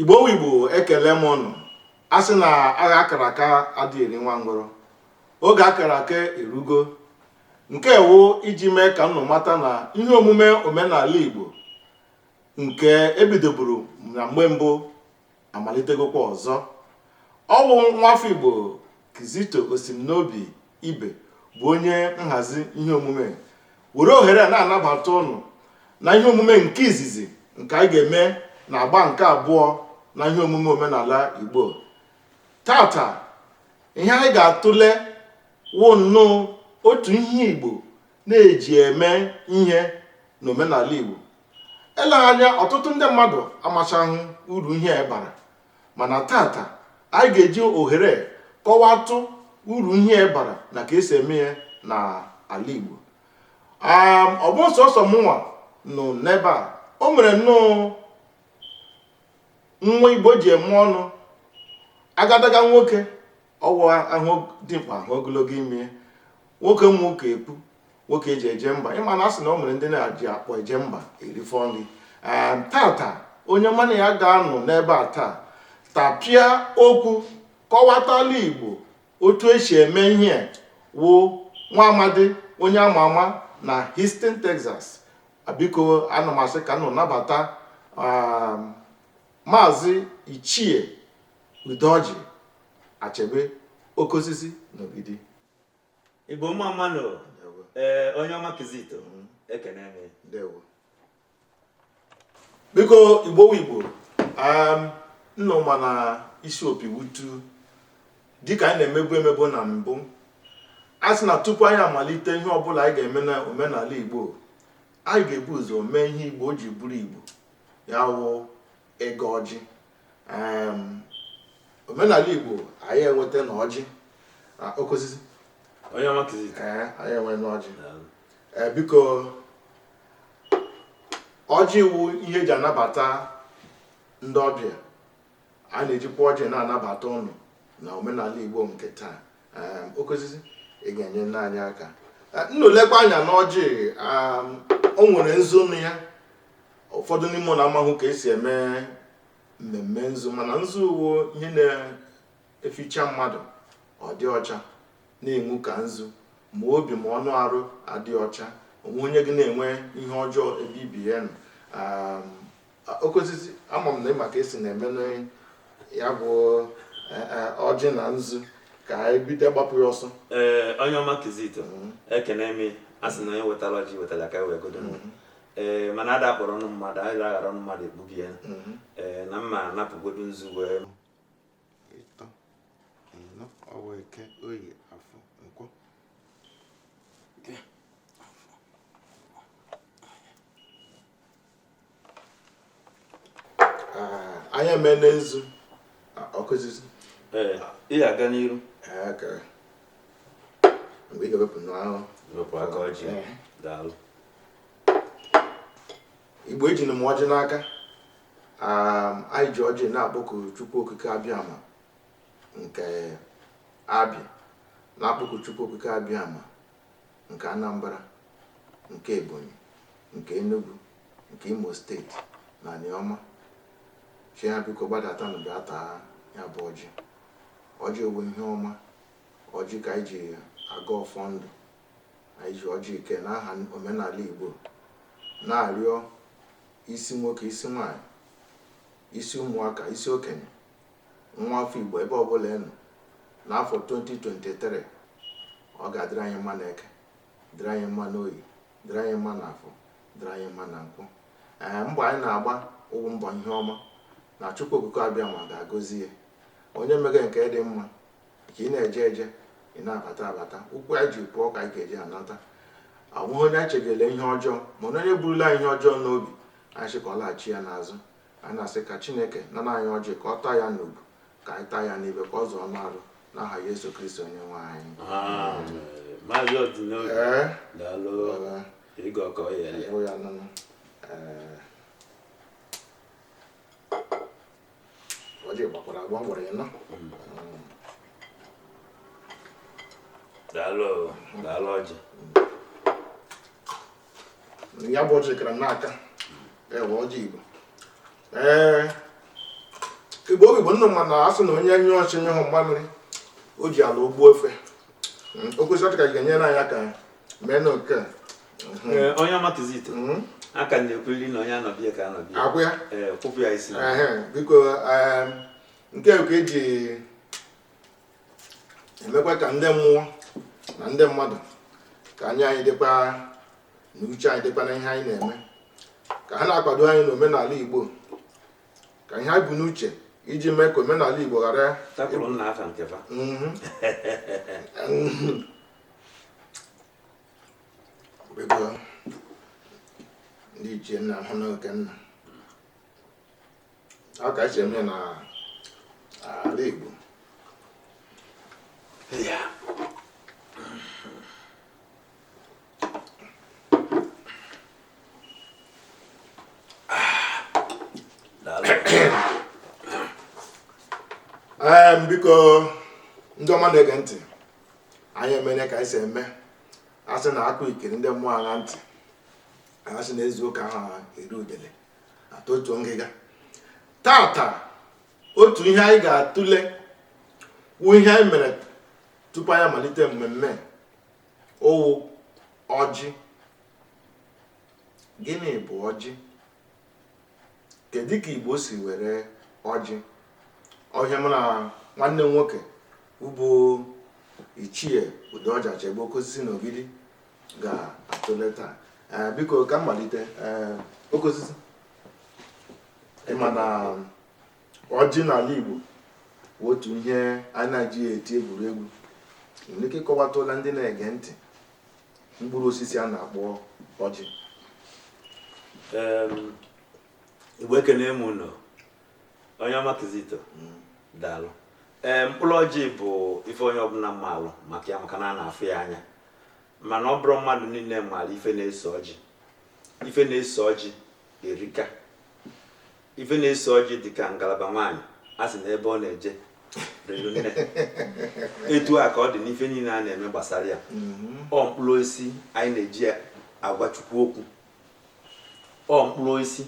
igbo wụ igbo ekele m ụnụ a sị na agha akara aka adịghị eri nwa ngwọrọ oge akara aka erugo nke a wụ iji mee ka nnụ mata na ihe omume omenala igbo nke ebidoburu na mgbe mbụ amalitegokwa ọzọ ọ bụ nwafọ Igbo Kizito Osimnobi Ibe bụ onye nhazi ihe omume were ohere a na-anabata ụnụ na ihe omume nke izizi nke anyị ga-eme na agba nke abụọ na ihe omume omenala Igbo tata ihe anyị ga-atụle wụ nnọọ otu ihe Igbo na-eji eme ihe n'omenala Igbo eleghị anya ọtụtụ ndị mmadụ amachahụ uru ihe a bara mana tata anyị ga-eji ohere kọwatụ uru ihe a bara na ka esi eme ya n'ala Igbo ọ bụ sọsọ mụnwa nọ n'ebe a o nwere nnọọ nwa Igbo ji eme ọnụ agadaga nwoke ọ wụ a hụ dimkpa a hụ ogologo imi nwoke m nwoke ekwu nwoke eji eje mba ị ma na a sị na o nwere ndị na-eji akpọ eje mba erifọ nri Ee, tata onye mụ na ya ga-anọ n'ebe a taa tapịa okwu kọwatala igbo otu esi eme ihe wụ nwa amadi onye ama ama na Houston Texas biko ana m asị ka nnụ nabata um, maazị ichie Udeọjị, Achebe, Oke Osisi na Ogidi. Igbo mma mma nụ o. Ndewo. Ee, onye ọma Kizito, ekene m. Ndewo. Biko Igbo wụ Igbo, um, nnụ ma na isi opi wutu dịka anyị na-emebu emebu na mbụ. A sị na tupu anyị amalite ihe ọbụla anyị ga-eme na omenala Igbo, anyị ga-ebu ụzọ mee ihe Igbo ji bụrụ Igbo, ya wụ ịgọ ọjị. omenala Igbo anyị enwetana ọjị okosisi onye ọma kizito ee anyị enwena ọjị ee biko ọjị wụ ihe eji anabata ndị ọbịa a na-ejikwa ọjị na-anabata ụnụ na omenala Igbo nke taa ee okosisi ị ga-enyere anyị aka nnụ lekwa anya na ọjị o nwere nzu na ya ụfọdụ n'ime unu amahụ ka esi eme mmemme nzu mana nzu ọ wụ ihe na-eficha mmadụ ọ dị ọcha na-enwu ka nzu ma obi ma anụ arụ adị ọcha o nwe onye gị na-enwe ihe ọjọọ ebe ibe ya nọ okosisi ama m na ị ma ka esi na-eme ya bụ e, e, ọjị na nzu ka anyị bido gbapụ ya ọsọ ee onye ọma kizito mm-hmm. ekene m a sị na onye wetara ọjị wetara ka e wee godo mm-hmm. ee mana ada kpọrọ ọnụ mmadụ anyị aghara ọnụ mmadụ egbughị ya mhm. ee na mma anapụgodu nzu wee ịtọ ịnọ ọ wụ eke oye afọ nkwọ anyị emeene nzu okosisi ị ga-aga n'iru mgbe ị ga-ewepụ n'ahụ wepụ aka ọjị daalụ igbo ejinụ m ọjị n'aka anyị ji ọjị na-akpọku chukwu okike abịama nke abịa na-akpọku chukwu okike abịama nke Anambra nke Ebonyi nke Enugu nke Imo steeti na Aniọma sị ha biko gbadatanụ bịa taa ya bụ ọjị ọjị ọ wụ ihe ọma ọjị ka anyị ji agọ ọfọ ndụ anyị ji ọjị ike n'aha omenala Igbo na-arịọ isi nwoke isi nwanyị isi ụmụaka isi okenye nwa afọ Igbo ebe ọbụla ị nọ n'afọ 2023 ọ ga-adịrị anyị mma n'eke dịrị anyị mma n'oye dịrị anyị mma n'afọ dịrị anyị mma na nkwọ ee mbọ anyị na-agba ọ wụ mbọ ihe ọma na Chukwu Okike Abịama ga-agọzi ya onye mege nke dị mma ka ị na-eje eje ị na-abata abata ụkwụ anyị ji pụọ ka anyị ga-eji anata o nwehụ onye anyị chegele ihe ọjọọ mana onye burula ihe ọjọọ n'obi anyị sị ka ọ laghachi ya n'azụ anyị na-asị ka chineke nara anyị ọjị ka ọ taa ya n'ubu ka anyị taa ya n'ibe ka ọ zụọ anụ arụ n'aha yesu kristi onye nwe anyị maazị ọdịnobi ee daalụ ee, ịga ọka ọ ya ele ịhụ ya nụnụ ee ọjị gbakwara agba nwere ịnọ daalụ daalụ ọjị ya bụ ọjị kara n'aka ọ wụ ọjị igbo ee igbo obi bụ nna mana a sị na onye nyụọ nsị anyụhụ mmamịrị o ji ala ụgwọ ofe hmm, o kwesịrị ka ga-enyere anyị aka mee na nke hmm. onye ọma kizito hmm. aka na-ekwuli na onye anọbịa ka anọbịa akwụ ya kwụpụ ya isi biko nke nke eji emekwa ka ndị mmụọ na ndị mmadụ ka anyị anyị dịkwa na uche anyị dịkwa na ihe anyị na-eme ka ha na-akwado anyị n'omenala Igbo ka ihe anyị bu n'uche iji mee ka omenala Igbo ghara mhm. ndị ichie na-ahụ n'oke nna ọ ka esi eme na ala Igbo ee biko ndị ọma na-ege ntị anyị emeene ka anyị si eme asị na akụọ ikiri ndị mmụọ aṅa ntị asị na ezuo ka aha eri udele atọtuo ngịga tata otu ihe anyị ga-atụle wụ ihe anyị mere tupu anyị amalite mmemme ọ wụ ọjị gịnị bụ ọjị kedu ka igbo si were ọjị ọ ihe mụ na nwanne m nwoke bụ ichie udo ja-achị igbo oke osisi na ogidi ga-atụle taa eh, biko ka m malite eh, oke osisi ị ma na ọjị n'ala Igbo wụ otu ihe a na-ejighị eti egwuregwu nwere ike ịkọwatụla ndị na-ege ntị mkpụrụ osisi a na-akpọ ọjị igbo ekene m unu onye ọma kizito mm. daalụ ee mkpụrụ ọjị bụ ife onye ọbụla maalụ maka ya maka na a na-afụ ya anya mana ọ bụrọ mmadụ niine maalụ ife na-eso ọjị ife na-eso ọjị erika ife na-eso ọjị dị ka ngalaba nwaanyị a sị na ebe ọ na-eje riri nne etu a ka ọ dị n'ife niine a na-eme gbasara ya mm-hmm. ọ mkpụrụ osisi anyị na-eji agwa chukwu okwu ọ mkpụrụ osisi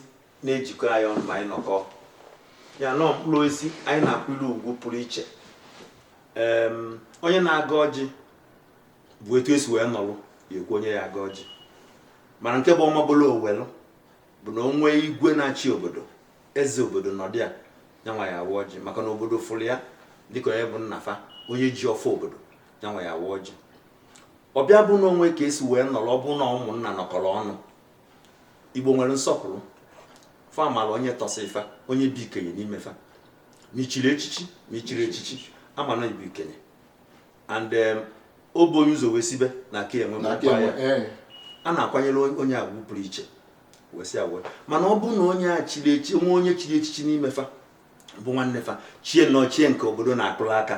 na-ejikọ anyị ọnụ ma anyị nọkọ ya ọnụ ọ mkpụrụ osisi anyị na-akwụrụ ugwu pụrụ iche onye na-agọ ọjị bụ etu esi wee nọlụ ya ekwu onye ya agọ ọjị mana nke bụ ọmabụla owelụ bụ na o nwe igwe na-achị obodo eze obodo nọdụ ya nya nwa ya awa ọjị maka na obodo fụrụ ya dịka onye bụ nna fa onye ji ọfọ obodo nya nwa ya awa ọjị ọ bịa bụ na o nwe ka esi wee nọrọ ọ bụ na ụmụnna nọkọrọ ọnụ igbo nwere nsọpụrụ fa mara onye tọsị fa onye bụ ikenye n'ime fa ma i chiri echichi ma i chirọ echichi a ma na ị bụ ikenye and um, ọ bụ onye ụzọ wee sibe na aka enwe na aka enwe eh. a na-akwanyere onye a ugwu pụrụ iche wee sị agwa mana ọ bụrụ na onye a chiri echi nwee onye chiri echichi n'ime fa bụ nwanne fa chie na ochie nke obodo na-akụrụ aka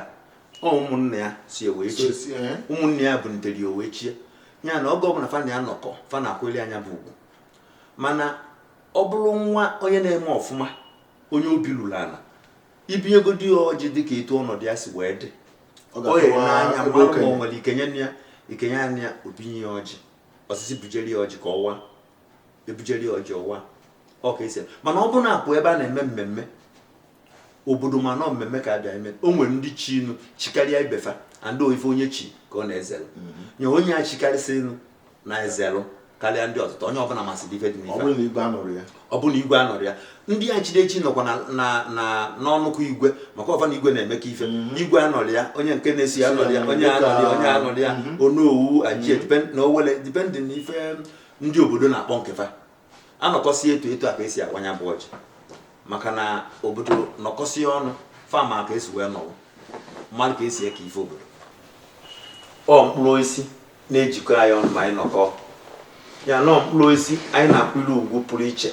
ọ ụmụnna ya si ewee chie eh. ụmụnna ya bụ nteri o wee chie ya na oge ọbụla fa na ya nọkọ fa na-akwụli ya nya bụ ugwu mana ọ bụrụ nwa onye na-eme ọfụma onye obi lulu ana i binyegodi ya ọjị dịka etu ọnọdụ ya si wee dị oye n'anya mara ma ọ nwere ikenye ya ikenye anya ya o binye ya ọjị ọ sị sị bujere ya ọjị ka ọ waa e bujere ya ọjị ọ waa ọ ka esi mana ọ bụ na apụ ebe a na-eme mmemme obodo ma nọ mmemme ka abịa eme o nwere ndị chinụ chikarịa ibe fa and ife onye chi ka ọ na-ezere mhm. nye onye a chikarịsịnụ na-ezelụ karịa ndị ọtụtụ onye ọbụla masịrị ife dị n'ife ọ bụrụ na igwe anọrọ ya ndị a chiri echi nọkwa na na- na n'ọnụkụ igwe maka ọ fa na igwe na-emekọ ife igwe anọrọ ya onye nke na-esi ya anọrọ ya onye anọrọ ya onowu ajie na owelle depending na ife ndị obodo na-akpọ nke fa a nọkọsie etu etu a ka esi akpa nya bụ ọjị maka na obodo nọkọsie ọnụ fa ma ka esi wee nọọ malụ ka esi eke ife obodo ọ mkpụrụ osisi na-ejikọ anyị ọnụ ma anyị nọkọ ya nọ mkpụrụ osisi anyị na-akwụrụ ugwu pụrụ iche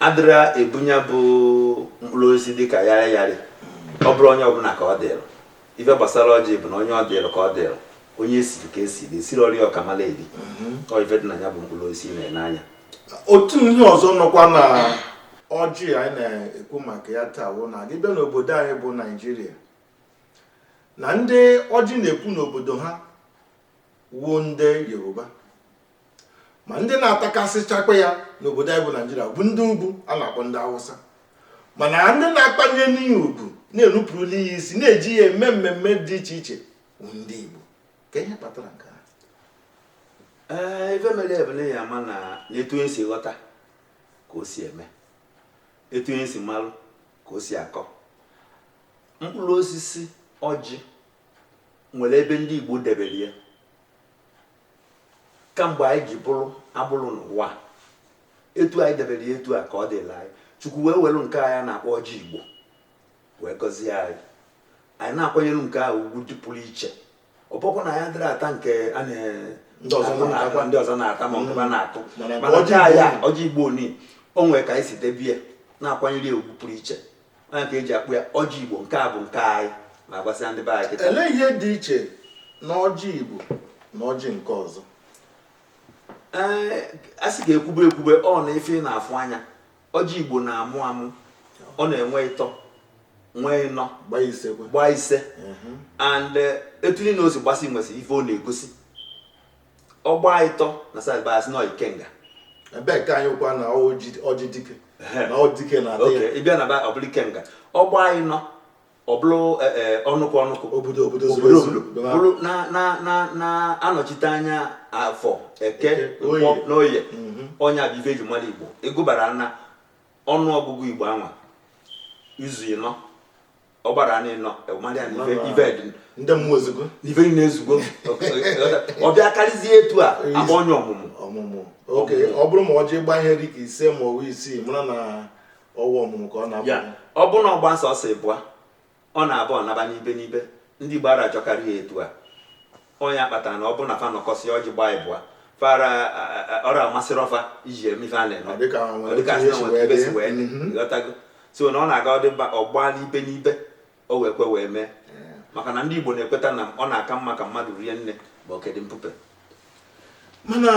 adịrọ ebu nya bụ mkpụrụ osisi dịka yarị yarị ọ bụrụ onye ọbụla ka ọ dịrị ife gbasara ọjị bụ na onye ọ dịrị ka ọ dịrị onye esiri ka esi na esiri o rie ọkamala eri mhm. ọ ife dị na ya bụ mkpụrụ osisi na-ene anya otu ihe ọzọ nọkwa na ọjị anyị na-ekwu maka ya taa bụ na gị bịa n'obodo anyị bụ naijiria na ndị ọjị na-epu n'obodo ha wụ ndị yoruba ma ndị na-atakasịchakwa ya n'obodo anyị bụ naijiria bụ ndị ugwu a na-akpọ ndị awụsa mana ndị na-akwanyere ya ugwu na-enupụrụla ya isi na-eji ya eme mmemme dị iche iche bụ ndị igbo kee ihe kpatara nke a ee ife mere ebele ya ama na etu onye si ghọta ka o si eme etu onye si malụ ka o si akọ mkpụrụ osisi ọjị nwere ebe ndị igbo debere ya kamgbe anyị ji bụrụ agbụrụ n'ụwa etu anyị debere ya etu a ka ọ dịlị anyị chukwu wee were nke anyị na-akpọ ọjị igbo wee gọzie anyị anyị na-akwanyere nke ahụ ugwu dị pụrụ iche ọ bụkwa na anyị adịrọ ata nke a na ndị ọzọ na-ata ma nke na-akụ mana ọjị igbo ni o nwere ka anyị si debe ya na-akwanyere ya ugwu pụrụ iche ọ ya ka eji akpọ ya ọjị igbo nke a bụ nke anyị ma gwasị ndị be anyị kịta ele ihe dị iche na ọjị igbo na ọjị nke ọzọ ee a sị ka ekwube ekwube ọ na ife ị na-afụ anya ọjị igbo na-amụ amụ ọ na-enwe ịtọ nwee ịnọ gbaa ise gbaa ise mhm. and eh, etu niile o si gbasị nwesị ife ọ na-egosi ọ gbaa ịtọ na saịd ba a sị na ikenga ebee ka anyị kwa na ọjị dike na ọ dike na adị ya ị bịa na ba ọ bụlụ ikenga ọ gbaa ịnọ ọ bụlụ e, e, ọnụkụ ọnụkụ obodo obodo obodo bụrụ na-anọchite anya afọ eke nkwọ na oye mhm. ọ nya bụ ife eji malụ igbo ị gụbara na ọnụ ọgụgụ igbo anwa izu ịnọ ọ gbara n'ịnọ malụ ya n'ife ife dị ndị mmụọ ezugo n'ife niile ezugo ọ bịa karịzie etu a akpọọ nya ọmụmụ ọmụmụ oke ọ bụrụ ma ọjị gba ihe dị ka ise ma ọ wụ isii mara na ọ wụ ọmụmụ ka ọ na-abụ ya ọ bụrụ na ọ gba sọsọ ịbụa ọ na-abụ ọ na-agba n'ibe n'ibe ndị igbo ara achọkarị ya etu a ọ nya kpatara na ọ bụrụ na fa nọkọsị ọjị gbaa ịbụa fa ara ọ ra amasịrị fa iji eme ife a na-eme ghọtago so na ọ na-aka adị mma ọ gbaa n'ibe n'ibe o wee kwe wee mee maka na ndị Igbo na-ekweta na ọ na-aka mma ka mmadụ rie nne ma oke dị mpupe mana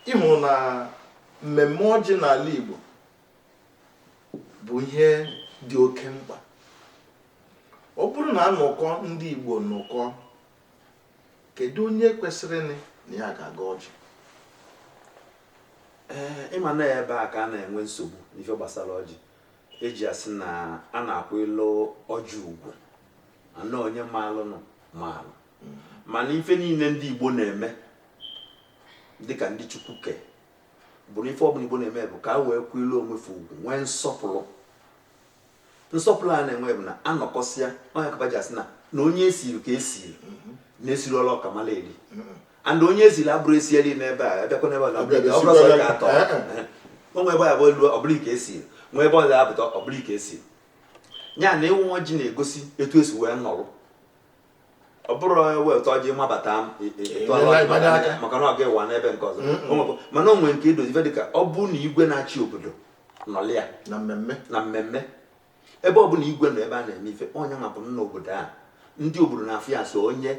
ị hụrụ na mmemme ọjị n'ala Igbo bụ ihe dị oke mkpa ọ bụrụ na a nọkọ ndị Igbo nọkọ kedu onye kwesịrị na ya ga-agọ ọjị ee ị ma na ebe a ka a na-enwe nsogbu n'ife gbasala ọjị eji asị na a na-akwụ ilu ọjị ugwu ana onye maalụnụ maalụ mana ife niine ndị Igbo na-eme dịka ndị Chukwu ke bụrụ ife ọbụla Igbo na-eme bụ ka a wee kwụ ilu onwe fa ugwu nwee nsọpụrụ nsọpụrụ a na-enwe bụ na a nọkọsịa ọ nya ka ba ji asị na na onye esiri ka esiri na-esiri ọla ọka mala eri and onye esiri abụrụ esi eri n'ebe a abịakwa n'ebe a na ọbụrụ ọ bụrụ ọsọ ya ga-atọ o nwee ebe ya bụ elu ọ bụrụ ka esiri nwee ebe ọzọ ya pụta ọ bụrụ ka esiri ya na ịwa ọjị na-egosi etu esi wee nọrụ ọ bụrụ eweta ọjị a bata maka na ọ ga-awa n'ebe nke ọzọ mana o nwere nke edozi ife dịka ọ bụ na igwe na-achị obodo nọlị ya na mmemme na mmemme ebe ọ bụla igwe nọ ebe a na-eme ife onye nwa bụ nna obodo a ndị obodo na-afụ ya so onye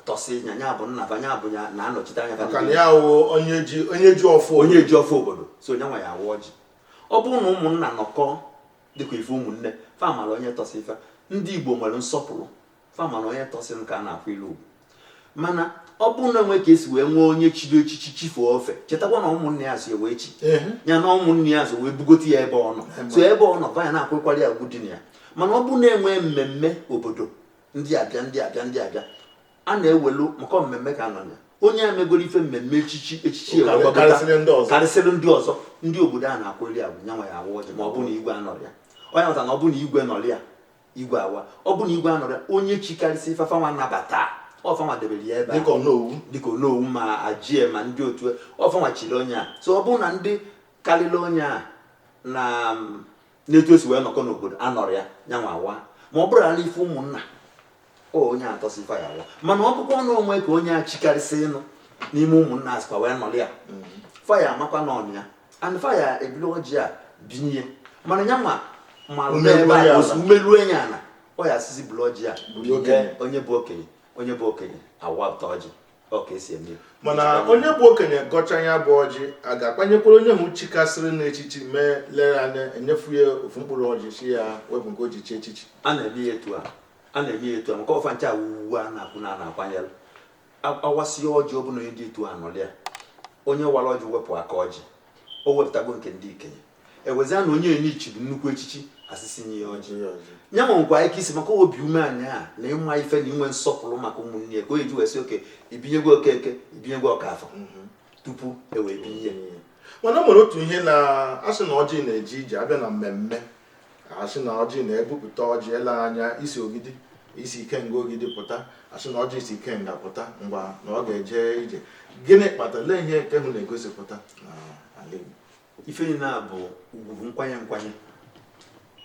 tọsị nya nya bụ nna nya bụ ya na-anọchite anya onye ji ọfọ onye ji ọfọ obodo sọ onye nwa ya-awa ọjị ọ bụrụ na ụmụnna nọkọ dịka ife ụmụnne fa mara onye tọsị ife ndị Igbo nwere nsọpụrụ fa ma na onye tọsị m ka a na-akwụlụ ugwu mana ọ bụrụ na e nwe ka esi wee nwee onye chiri echichi chifu ofe chetakwa na ụmụnne ya so wee chi ya na ụmụnne ya so wee bugote ya ebe ọ nọ so ebe ọ nọ fa ya na-akwụkwara ya ugwu dị na ya mana ọ bụrụ na enwee mmemme obodo ndị abịa ndị abịa ndị abịa a na-enwelu maka mmemme ka nọ ya onye a megoro ife mmemme echichi echichi karịsịrị ndị ọzọ ndị obodo a na-akwụli ugwu nyanwa ya awa ọjị ma ọ bụ na igwe anọrọ ya onye mata na ọ bụ na igwe nọrọ ya igwe awa ọ bụ na igwe anọrọ onye chikarịsị fa fanwa nabata ọ fanwa debere ya ebe dịka onowu dịka onowu ma ajie ma ndị otu e, ọ fanwa chiri onye a so ọ bụ na ndị karịrị onye a na mm, n'etu esi wee nọkọ n'obodo anọrọ ya nyanwa awa ma ọ bụrụ ala ife ụmụnna onye tọsị fa ya awa mana ọ bụkwa na o nwe ka onye a chikarịsịnụ n'ime ụmụnna esikwa wee nọrọ ya mm-hmm. fa ya amakwa na ọ nọ ya and fa ya ebili ọjị a binye mana nyanwa malụ n'ebe a ozu mmelu enyi na ọ ya-asịzi bulu ọjị a onye bụ okenye onye bụ okenye awapụta ọjị ọ ka esi eme mana onye bụ okenye gọcha ya bụ ọjị a ga-akwanyekwara onye ahụ chikasịrị n'echichi mee lere anya enyefu ya ofu mkpụrụ ọjị sị ya wepụ nke o ji chi echichi a na-eme ya etu a a na-eme ya etu a maka ọ fa ncha wụ ugwu a na-akwụ na a na-akwanyere awasịa ọjị ọbụla onye dị etu a nọlị ya onye wara ọjị wepụ aka ọjị o wepụtago nke ndị ikenye ewezia na onye e chiri nnukwu echichi asị sị nye ya ọjị nye ma nkwa ike isi maka obi umeani ya na ịma ife na inwe nsọpụrụ maka ụmụnne ya ka o ji wee sị okay i binyego Okeke i binyego Okafọ mhm. tupu e wee binye m mana o nwere otu ihe a na-asị na ọjị na-eje ije abịa na mmemme asị na ọjị na e bupụta ọjị ele anya i si Ogidi i si Ikenga Ogidi pụta asị na ọjị i si Ikenga pụta ngwa na ọ ga-eje ije gịnị kpatara lee ihe nke ahụ na-egosipụta n'ala Igbo ife niile a bụ ugwu bụ nkwanye nkwanye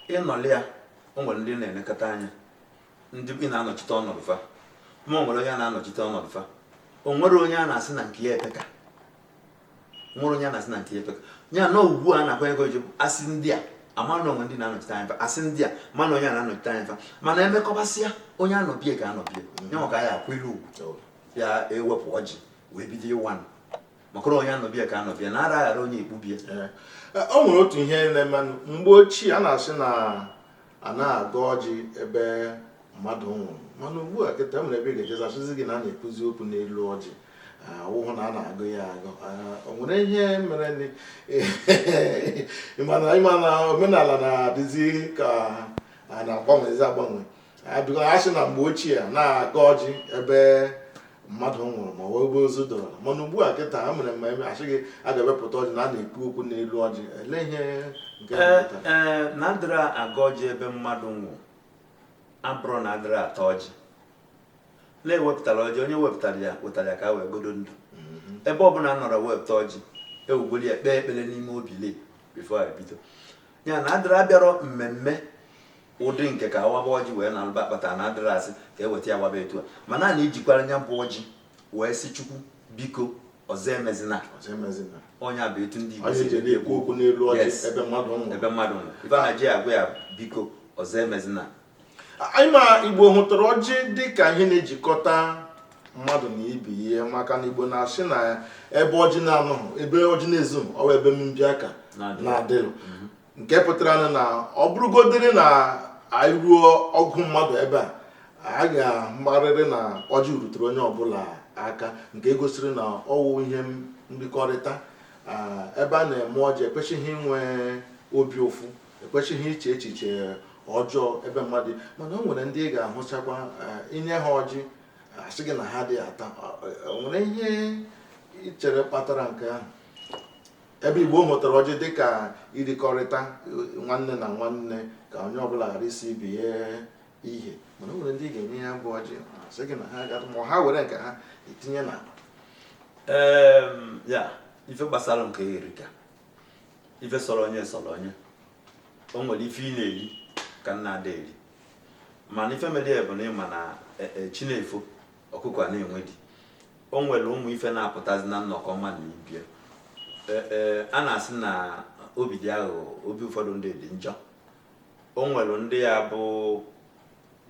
ị nọlị ya o nwere ndị na-elekọta anya ndị na-anọchite ọnọdụ fa ma o nwere onye na-anọchite ọnọdụ fa o nwere onye a na-asị na nke ya eteka nwere onye a na-asị na nke ya pụta ya na ugwu a na-akwanye e ji asị ndị a ma na o nwe ndị na-anọchite anya asị ndị a ma na onye a na-anọchite anya fa mana emekọbasịa onye a nọ be ya ka a nọ be ya ya ka a ya-akwụlụ ugwu ya ewepụ ọjị wee bido ịwa maka na onye a nọ be ya ka a nọ be ya na anara aghara onye e kpu be ya o nwere otu ihe na-emenụ mgbe ochie a na-asị na a na-agọ ọjị ebe mmadụ nwụrụ mana ugbu a kịta o nwere ebe ị ga-ejezi asịzi gị na a na-ekwuzi okwu n'elu ọjị ọ wụhụ na a na-agọ ya agọ o nwere ihe merenụ ịma na omenala na-adịzi ka a na-agbanwezi agbanwe abịa asị na mgbe ochie a na-agọ ọjị ebe mmadụ nwụrụ ma ọ bụ ebe ozu dọrọ mana ugbu a kịta a mere mmemme asịghị a ga-ewepụta ọjị na a na-ekwu okwu n'elu ọjị ele ihe nke na adịrọ agọ ọjị ebe mmadụ nwụrụ abụrọ na adịrọ ata ọjị na-ewepụtara ọjị onye wepụtara ya wetara ya ka a wee godo ndụ mhm. ebe ọ bụla a nọrọ wepụta ọjị ewegoro ya kpee ekpere n'ime obili before ebido ya na adịrọ abịarọ mmemme ụdị nke ka awaba ọjị wee na alụba kpata na adịrọ asị ka eweta ya waba etu a mana a na-ejikwara nya bụ ọjị wee sị Chukwu biko ọzọ emezina ọ nya bụ etu ndị Igbo si ekwu okwu n'elu ọjị ebe mmadụ nwụrụ ebe mmadụ nwụrụ ife a na-eji agwa ya biko ọzọ emezina anyị ma Igbo hụtara ọjị dị ka ihe na-ejikọta mmadụ na ibe ya maka na Igbo na-asị na ebe ọjị na-anọghị ebe ọjị na-ezughị ọwụ ebe mbọ aka na-adịrọ mhm. nke pụtara na ọ bụrụgodịrị na anyị ruo ọgụ mmadụ ebe a a ga-agbarịrị na ọjị rutere onye ọbụla aka nke gosiri na ọwụ ihe mbikọrịta ebe a na-eme ọjị ekwesịghị inwe obi ụfụ ekwesịghị iche echiche ọjọọ ebe mmadụ mana o nwere ndị ị ga-ahụchakwa eh, i nye ha ọjị asị gị na ha adịghị ata o nwere ihe i chere kpatara nke ahụ ebe Igbo hụtara ọjị dị ka irikọrịta nwanne na nwanne ka onye ọbụla ghara isi ibe ya ihe mana o nwere ndị ị ga-enye ya bụ ọjị asị gị na ha ga ma ha were nke ha etinye na ya ife gbasara nke erika ife sọrọ onye sọrọ onye o nwere ife ị na-eri ka nna ada eri mana ife mere ya bụ na ịma na e, e, chi na-efo ọkụkọ a na-enwe di o nwere ụmụ ife na-apụtazi na nnọkọ mmadụ na ibie e, a na-asị na obi dị aghụghọ obi ụfọdụ ndị dị njọ o nwere ndị ya bụ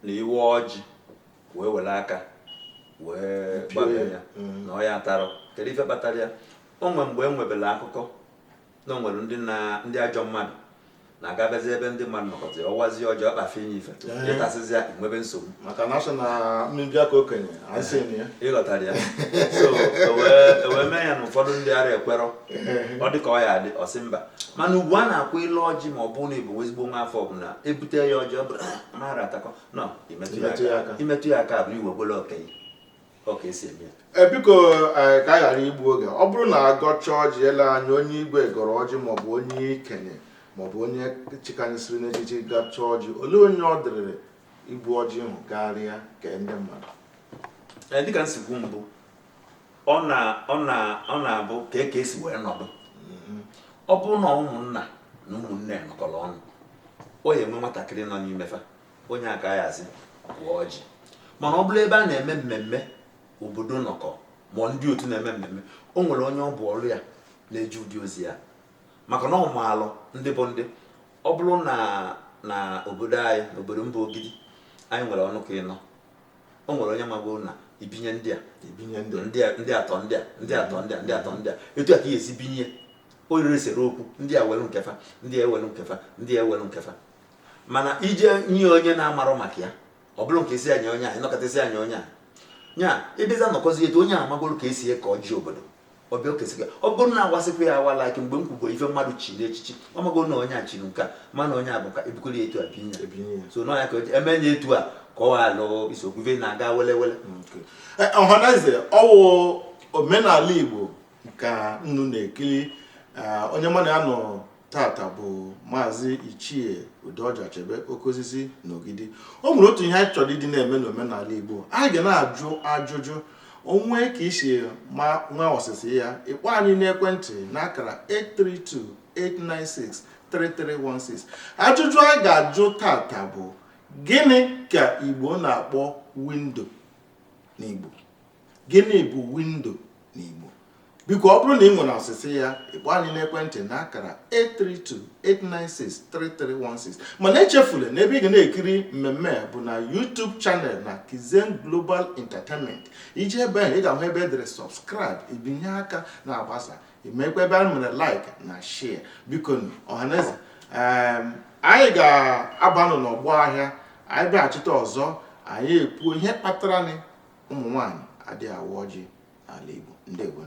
na i we ọjị wee were aka wee gbabie ya mm. na ọ ya tarọ kedu ife kpatara ya o nwe mgbe e nwebere akụkọ na o nwere ndị na ndị ajọ mmadụ na-agabazi ebe ndị mmadụ nọkọtara ọ wazi ọjị ọ kpafenye ife Ee. ị tasịzi ya nwebe nsogbu maka na asị na mmiri aka okenye anyị sị na ya ịghọtara ya so ewee ewee mee ya na ụfọdụ ndị ara ekwerọ ọ dị ka ọ ya adị ọ sị mba mana ugbu a na-akwụ ilu ọjị ma ọ bụrụ na ịbụ ezigbo nwa afọ ọbụla ebute ya ọjị ọ bụrụ "Ah, mara atakọ nọ imetụ ya Imetụ ya aka aka. imetụ ya aka bụ i wegara okenye e, biko e, ka a ghara igbu oge ọ bụrụ na agọcha ọjị ele anya onye igwe gọrọ ọjị maọbụ onye ikenye maọbụ onye chịkanyesịrị n'echichi gọcha ọjị olee onye ọ dịrịrị ibu ọjị ahụ garịa kee ndị mmadụ e, dịka m si kwuo mbụ ọ na-abụ ka e ka e si wee nọdụ mm-hmm. ọ bụrụ na ụmụnna na ụmụnne nọkọrọ ọnụ ọ ya-enwe nwatakịrị nọ n'ime fa onye aka ya asị gụọ ọjị mana ọ bụrụ ebe a na-eme mmemme obodo nọkọ ma ndị otu na-eme mmemme o nwere onye ọ bụ ọrụ ya na-eji ụdị ozi ya maka na ọ maalụ ndị bụ ndị ọ bụrụ na na obodo anyị na obodo mba ogidi anyị nwere ọnụ ka ịnọ o nwere onye magbo na ibinye ndị a ibinye ndị ndị a- ndị atọ ndị a ndị atọ ndị a ndị atọ ndị a etu a ka ị ga-esi binye o rere sere okwu ndị a were nkefa ndị a ewere nkefa ndị a ewere nkefa mana i je nye onye na-amarọ maka ya ọ bụrụ nke isi anya onye a ịnọkọtasị anya onye a nya ị bịazịa na-akụzi etu onye amagoro ka esi eke ọjị obodo ọ bịa o kesịa ọ bụrụ na agwasịkwa ya agwa like mgbe m kwugo ife mmadụ chi n'echichi ọ mago na onye a chiri nke a mana onye a bụ ka ebukọrọ ya etu a binye ya so nọ ya ka eme ya etu a ka ọ ghalụ ise okwu ife na-aga wele wele eh, ọhanaeze ọ wụ omenala igbo ka unu na-ekiri eh, onye mụ na ya nọ tata bụ maazị ichie Udoji Achebe Okeosisi na Ogidi o nwere otu ihe anyị chọrọ ịdị na-eme n'omenala Igbo anyị ga na-ajụ ajụjụ o nwee ka i si ma nwee ọsịsa ya ị kpọọ anyị n'ekwentị n'akara 832-896-3316 ajụjụ anyị ga-ajụ tata bụ gịnị ka Igbo na-akpọ window n'Igbo gịnị bụ window n'Igbo Biko ọ bụrụ na ị nwere ọsịsa ya, ị kpọọ anyị n'ekwentị n'akara 832-896-3316. Mana echefula na ebe ị ga na-ekiri mmemme a bụ na YouTube channel na Kizen Global Entertainment. I jee ebe ahụ ị ga-ahụ ebe e dere subscribe, i binye aka na-agbasa, i meekwa ebe a mere like na share. Biko nụ, ọhaneze, em, anyị ga-abanụ n'ọgbọ ahịa, anyị bịaghachite ọzọ, anyị ekwuo ihe kpatara na ụmụ nwaanyị adịghị awa ọjị. n'ala Igbo ndewo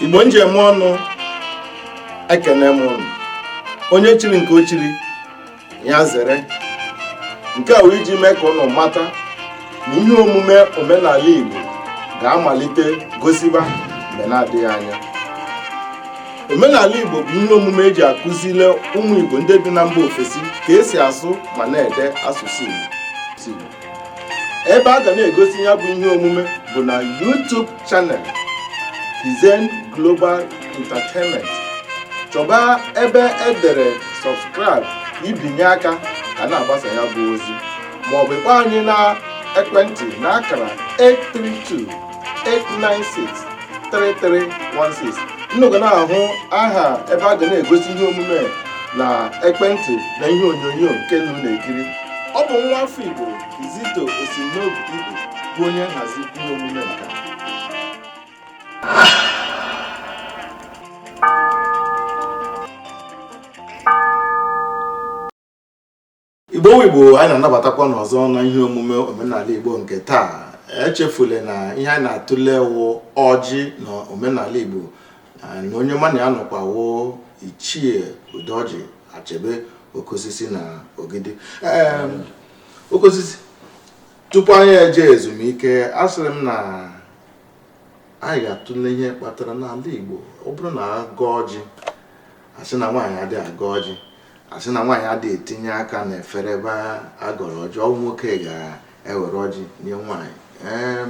Igbo m ji eme ọnụ ekene m ụnụ onye chiri nke o chiri ya zere nke a wụ iji mee ka ụnụ mata na ihe omume omenala Igbo ga-amalite gosiba mgbe na-adịghị anya omenala igbo bụ ihe omume eji akụzile ụmụ igbo ndị dị na mba ofesi ka esi asụ ma na-ede asụsụ igbo ebe a ga na-egosi ya bụ ihe omume bụ na YouTube channel Kizen Global Entertainment chọba ebe edere subscribe i binye aka ka a na-agbasa ya bụ ozi maọbụ ị kpọọ anyị na ekwentị na akara 832 896-3316 unu ga na-ahụ aha ebe a ga na-egosi ihe omume na ekwentị na ihe onyonyo nke unu na-ekiri ọ bụ nwa afọ Igbo Kizito Osiniobi Igbo bụ onye nhazi ihe omume nke igbo igbo anyị na-anabatakwa unu ọzọ na ihe omume omenala igbo nke taa echefule na ihe anyị na-atụle wụ ọjị na omenala igbo na onye mụ na ya nọkwa wụ ichie udeọjị achebe okosisi na ogidi okosisi tupu anyị eje ezumike asịrị m na anyị ga-atụle ihe kpatara n'ala Igbo ọ bụrụ na agọ ọjị a sị na nwaanyị adịghị agọ ọjị a sị na nwaanyị adịghị etinye aka na efere ebe a gọrọ ọjị ọ bụ nwoke ga-ewere ọjị nye nwaanyị ee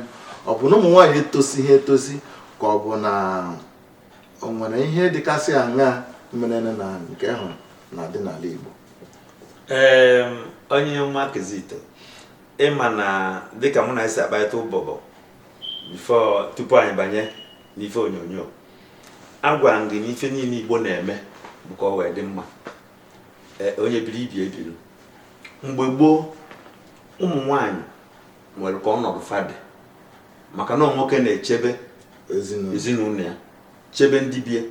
ọ bụ na ụmụ nwaanyị etosighị etosi ka ọ bụ na o nwere ihe dịkasị aṅa mere na nke ahụ na-adị n'ala Igbo ee onye nwa Kizito ịma na dịka mụ na gị si akparịta ụbụbọ before tupu anyị banye n'ife onyonyo agwara m gị na ife niile igbo na-eme bụ ka ọ wee dị mma e, onye biri ibe ya ebiri mgbe gboo ụmụ nwanyị nwere ka ọnọdụ fa dị maka na nwoke na-echebe ezinụlọ ya chebe ndị be ya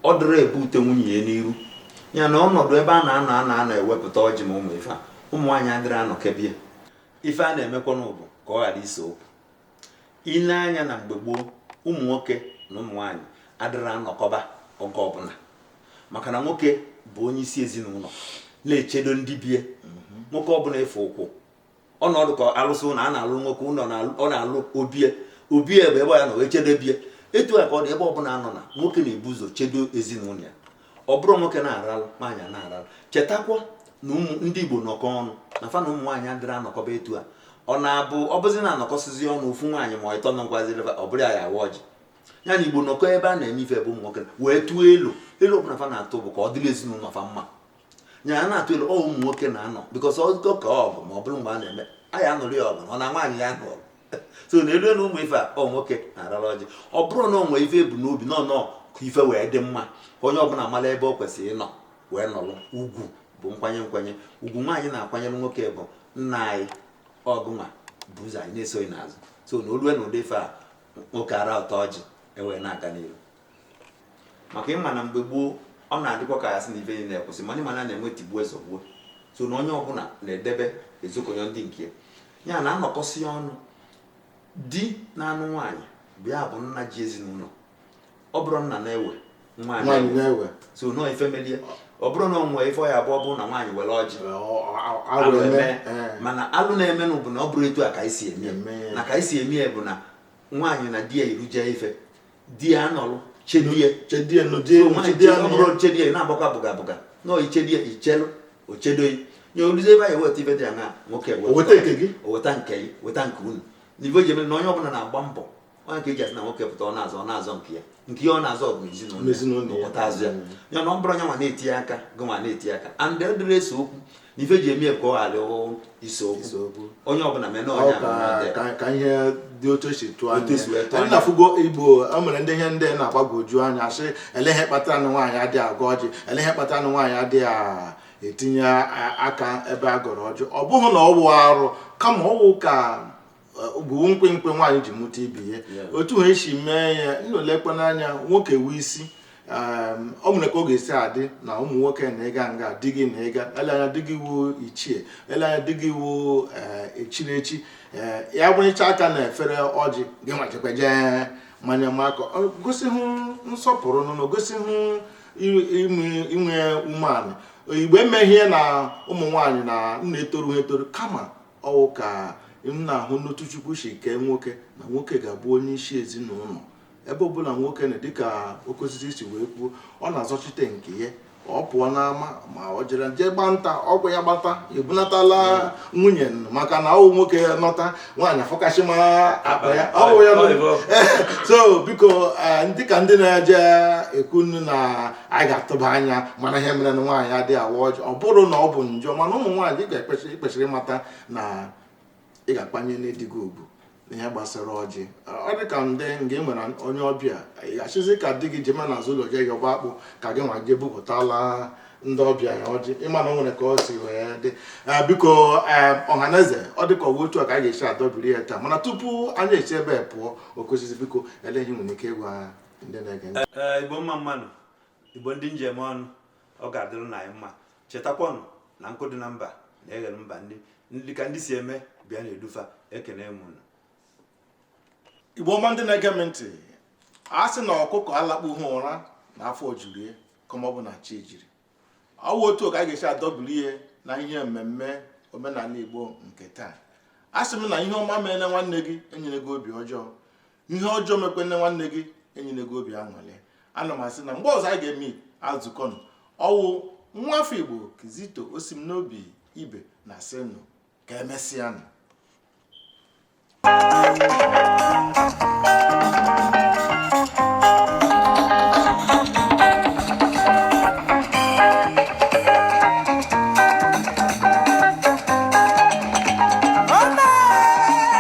ọ dịrọ ebute nwunye ya n'iru ya na ọnọdụ ebe a na-anọ a na-anọ ewepụta ọjị ma ụmụ ife a ụmụ nwaanyị adịrọ anọkebe ya ife a na-emekwanụ bụ ka ọ ghara ise okwu I nee anya na mgbe gboo, ụmụ nwoke na ụmụ nwaanyị adịrọ anọkọba oge ọbụla maka na nwoke bụ onye isi ezinụlọ na-echedo ndị be ya nwoke ọbụla ị fụkwuo ọnọdụ ka a lụsịa ụlọ a na-alụ nwoke ụlọ na- ọ na-alụ obi ya obi ya bụ ebe ọ ya-anọ wee chedo be ya etu a ka ọ dị ebe ọbụla a nọ na nwoke na-ebu ụzọ chedo ezinụlọ ya ọ bụrọ nwoke na-aralụ nwaanyị na-aralụ chetakwa na ụmụ ndị igbo nọkọ ọnụ na fa na ụmụ nwaanyị adịrọ anọkọba etu a ọ na-abụ ọ bụzi na-anọkọsịzi ọnụ ofu nwaanyị ma ịtọ nọ ngwaziri ọ bụrụ ya ya-awa ọjị ya na igbo nọkọ ebe a na-eme ife bụ ụmụ nwoke wee tụọ elo elo ọbụla fa na-atụ bụ ka ọ dịrị ezinụlọ fa mma nya a na-atụ elo ọ ụmụ nwoke na-anọ because ọgụgọ ka ọ bụ ma ọ bụrụ mgbe a na-eme a ya-anụrụ ya ọgụ ọ na nwaanyị ya-anụ ọgụ so na e lue na ụmụ ife a ọ nwoke na-arara ọjị ọ bụrọ na o nwee ife e bu n'obi no no ka ife wee dị mma onye ọbụla mara ebe ọ kwesịrị ịnọ wee nọrọ ugwu bụ nkwanye nkwanye ugwu nwaanyị na-akwanyere nwoke bụ nna anyị ọ gịnwa bu ụzọ anyị na-eso gị n'azụ so na o lue na ụdị ife a nwoke ara ụtọ ọjị e wee na-aga n'ihu maka ịma na mgbe gboo ọ na-adịkwa ka a ya-asị na ife niile kwụsị mana ịma na na-enwe tigbuo zogbuo so na onye ọbụla na-edebe ezokonyo ndị nke ya na a nọkọsịa ọnụ di na-anụ nwaanyị bụ ya bụ nna ji ezinụlọ ọ bụrụ nna na-ewe nwaanyị na-ewe so nọọ ife melie ọ bụrọ na o nwe ife ya abụọ bụrụ na nwaanyị were ọjị mana alụ na-emenụ bụ na ọ bụrọ etu a ka anyị si eme na ka anyị si eme bụ na nwaanyị na di ya iruje ife di ya nọrụ chedie chedie na-agbakwa abụga abụga nọ ichedie ichelu ochedoyi nye oluzi ebe anyị weta ife dị ya na nwoke weta nke gị weta nke unu n'ife ji eme na onye ọbụla na-agba mbọ onye ka eji asị na nwoke pụta ọ na-azọ nke ya nke ya ọ na-azọ bụ ezinụlọ ya ọpụta azụ ya ya na ọ bụrụ na ya nwa na-etinye aka gị nwa na-etinye aka and ọ dịrọ ese okwu na ife ji eme ka ọ ghara ise okwu onye ọbụla mee n'ọnya ka ihe dị otu esi tụọ anya anyị na-afụgo igbo o nwere ndị ihe ndị na-agbagwoju anya sị ele ihe kpatara na nwaanyị adịghị agọ ọjị ele ihe kpatara na nwaanyị adịghị etinye aka ebe a gọrọ ọjị ọ bụghị na ọwụ arụ kama ọwụ ka bụrụ nkwenkwe nwaanyị ji mụta ibi ya otu ha esi mee ya nna olekwa n'anya nwoke wee isi ọ nwere ka ọ ga-esi adị na ụmụ nwoke na ịga nga di gị nọ ịga ele anya di gị wụ ichie ele anya di gị wụ echiri echi eh, ya gbanyechaa aka na efere ọjị gị nwachekwaje manye maka ọ gosihụ nsọpụrụ nụnụ ọ gosihụ inwe umeala igbo emeghie na ụmụ nwaanyị na nne etoru ha etoru kama ọwụ ka m na-ahụ n'otu Chukwu si kee nwoke na nwoke ga-abụ onye isi ezinụlọ ebe ọbụla nwoke nọ dịka okeosisi si wee kwuo ọ na-azọchite nke ya ọ pụọ n'ama ma ọ jere jee gba nta ọwụ ya gbata ebunatala nwunye maka na ọwụ nwoke nọta nwaanyị afọkasị ma akpa ya ọwụ ya so biko eh, dịka ndị na-eje ekwunụ na anyị ga-atụba anya mana ihe mere na nwaanyị adịghị awa ọjị ọ bụrọ na ọ bụ njọ mana ụmụ nwaanyị kwesịrị ịmata na ị ga-akpanyere di gị ugwu n'ihe gbasara ọjị ọ dị ka ndị nga ị nwere onye ọbịa ị ga-asịzi ka di gị jema n'azụ ụlọ jee yọba akpụ ka gị nwa jee bupụtala ndị ọbịa ya ọjị ịma na o nwere ka ọ si wee dị Eh, biko eh, ọhaneze ọ dịka ọwụ otu a ka anyị ga-esi adọbiri ya taa mana tupu anyị esi ebe a pụọ okeosisi biko ele ihe ị nwere ike ịgwa ee igbo mma mmanụ igbo ndị m ji eme ọnụ ọ ga-adịrụnụ anyị mma chetakwanụ na nkụ dị na mba na-eghere mba nri ka ndị si eme bịa na edufa ekene m unu igbo ọma ndị na-ege m ntị a sị na ọkụkọ alakpughị ụra na afọ juru ya kama ọ bụ na chi jiri ọ wụ otu a ka a ga-esi adọbiri ya na ihe mmemme omenala igbo nke taa a sị m na ihe ọma meele nwanne gị enyere gị obi ọjọọ ihe ọjọọ mekwene nwanne gị enyere gị obi anwụlị ana m asị na mgbe ọzọ a ga-eme azụkọnụ ọwụ nwa afọ igbo kizito osimnobi ibe na asịnụ ka emesịanụ